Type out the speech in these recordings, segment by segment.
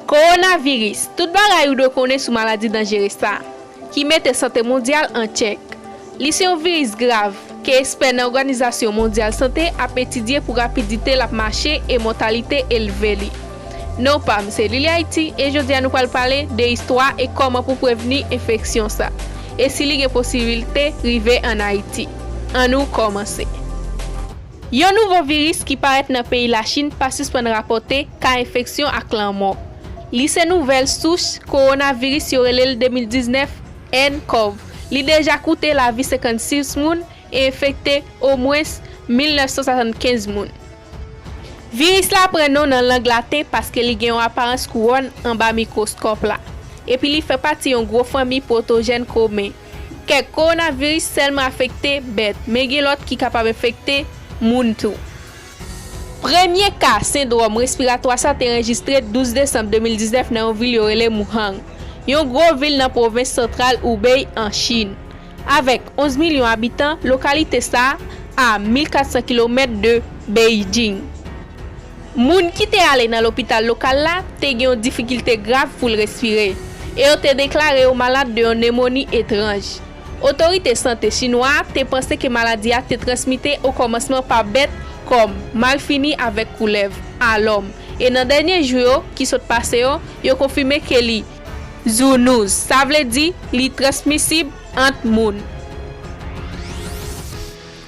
Kowonaviris, tout bagay ou dwe konnen sou maladi danjere sa, ki mete sante mondyal an tchèk. Li se yon viris grav, ke espè nan Oganizasyon Mondyal Sante ap etidye pou rapidite lap mache e mòtalite elve li. Non pam se Lili Haiti e jodia nou pral pale de istwa e kòman pou prevni enfeksyon sa, e si li gen posibilte rive an Ayiti. Annou kòmanse. Yon nouvo viris ki parèt nan peyi Lachin pa sispann rapòte ka enfeksyon ak lanmò. Li se nouvèl souch kowonaviris yo rele l 2019 nCoV. Li deja koute lavi 56 moun e enfekte omwens 1975 moun. Viris la pran non nan lang laten paske li gen yon aparans kouwòn anba mikwoskòp la, epi li fè pati yon gwo fanmi pwotojèn komen. Kèk kowonaviris sèlman afekte bèt, men gen lòt ki kapab enfekte moun tou. Premye ka sendwòm respiratwa sa te anrejistre 12 desanm 2019 nan yon vil yo rele Muhang, yon gwo vil nan pwovens santral Hubei an Chin. Avèk 11 milyon abitan, lokalite sa a 1,400 kilomèt de Beijing. Moun ki te ale nan lopital lokal la te gen yon difikilte grav pou l respire, e yo te deklare yo malad de yon nemoni etranj. Otorite sante chinwa a te panse ke maladi a te transmite o kòmansman pa bèt kòm malfini avèk koulèv a lòm, e nan dènye jou yo ki sot pase yo, yo konfime ke li. Zoonose, sa vle di li transmisib ant moun.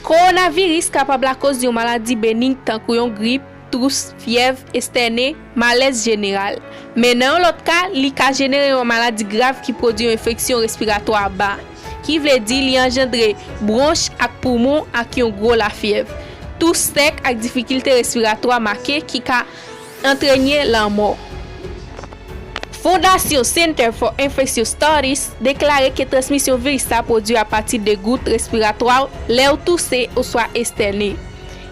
Kowonaviris kapab lakoz yon maladi benig tankou yon grip, tous, fyèv, estène, malèz jeneral. Men nan yon lòt ka, li ka jenere yon maladi grav ki pwodui yon enfeksyon respiratwa ba, ki vle di li anjandre bwonch ak poumon ak yon gwo lafyèv, tous sèk ak difikilte respiratwa make ki ka. Antrenye lanmò. Fondasyon Center for Infectious Studies deklare ke transmisyon viris sa pwodui apati de gout respiratwa w lè w touse oswa estène,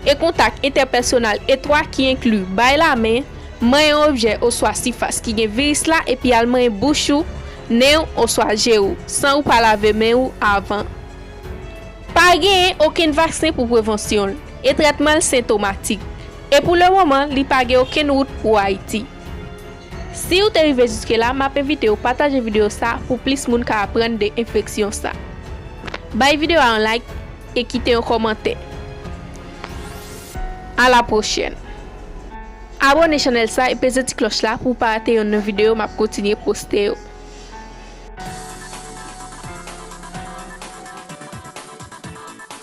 e kontak entèpèsonal etwa ki enkli bay lamen, manyen yon objè oswa sifas ki gen viris la epi al manyen bouch ou, nen w oswa je ou san ou pa lave men ou avan. Pa genyen okenn vaksen pou prevansyon l, e trètman l sentomatik. E pou le moman li pa gen okenn wout pou Haiti. Siw te rive jiske la map envitew pataje video sa pou plis moun ka aprann de enfeksyon sa. Bay video a yon like e kite yon komantè. A la pwochèn. Abone chanèl sa e peze ti kloch la pouw pa rate yonn nan video map kontinye poste yo.